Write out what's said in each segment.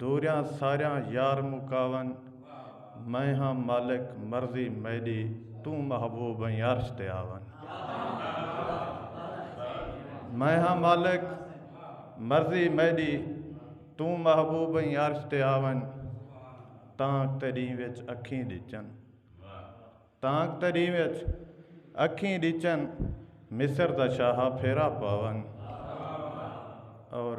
دوریاں ساریاں یار مکاون میں ہاں مالک مرضی میڈی توں محبوب ہیں عرش تے آون میں ہاں مالک مرضی میڈی توں محبوب ہیں عرش تے آون تانک تیڈیں وچ اکھیں ڈچن تانک تیڈیں وچ اکھیں ڈچن مصر دا شاہا پھیرا پاون اور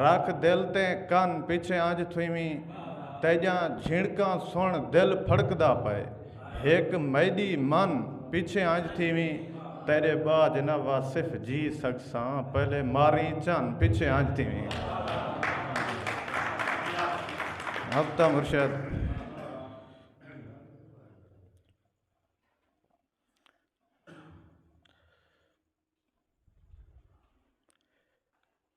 رکھ دل تے کن پچھے انج تھیویں تیجاں جھنڑکاں سنڑ دل پھڑکدا پئے ہک میڈی من پچھے انج تھیویں تیڈے باج نہ واصف جی سگساں پہلے ماریں چن پچھے انج تھیویں ہفتہ مرشد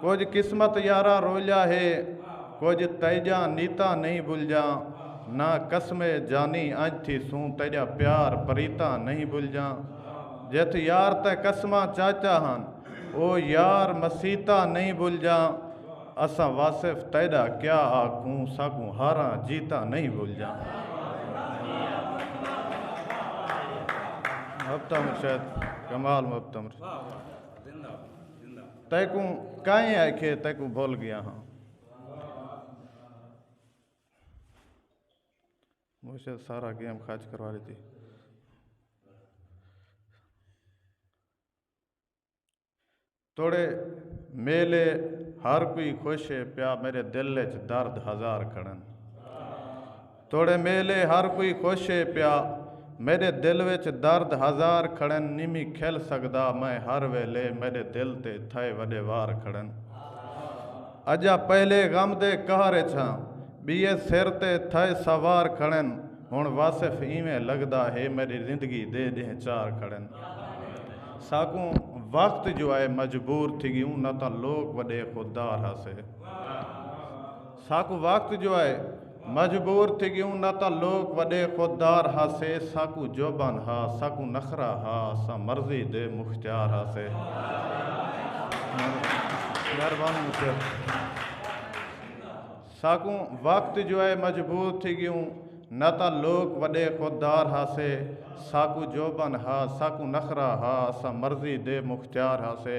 کجھ قسمت یاراں رولیا ہے کجھ تیجاں نیتاں نہیں بھلجاں نہ قسم اے جانی انج تھی سوں تیجا پیار پریتاں نہیں بھلجاں جتھ یار تے قسماں چاچا ہن او یار مسیتاں نہیں بھلجاں اساں واصف تیڈا کیا آکھوں ساکوں ہاراں جیتاں نہیں بھلجاں۔ تیکوں کائیں آکھیے تیکوں بھل گیا ہاں مجھے سارا گیم خرچ کروا لیتی توڑے میلے ہر کوئی خوش ہے پیا میرے دل چ درد ہزار کھڑن توڑے میلے ہر کوئی خوش اے پیا میڈے دل وچ درد ہزار کھڑن نیمی کھل سگدا میں ہر ویلے میڈے دل تے تھئے وڈے وار کھڑن اجا پہلے غم دے قہر اچ ہاں بیے سر تے تھئے سوار کھڑن ہن واصف ایویں لگدا ہے میڈی زندگی دے ڈینہ چار کھڑن ساکوں وقت جو آئے مجبور تھی گی اوں نہ تاں لوک وڈے خوددار ہاسے ساکوں وقت جو آئے مجبور تھی ڳیوں نہ تاں لوک وݙے خود دار ہاسے ساکوں جوبان ہا ساکوں نخرہ ہا اساں مرضی دے مختیار ہاسے مہربانی مصر ساکوں وقت جو ہے مجبور تھی ڳیوں نہ تاں لوک وݙے خود دار ہاسے ساکوں جوبان ہا ساکوں نخرہ ہا اساں مرضی دے مختیار ہاسے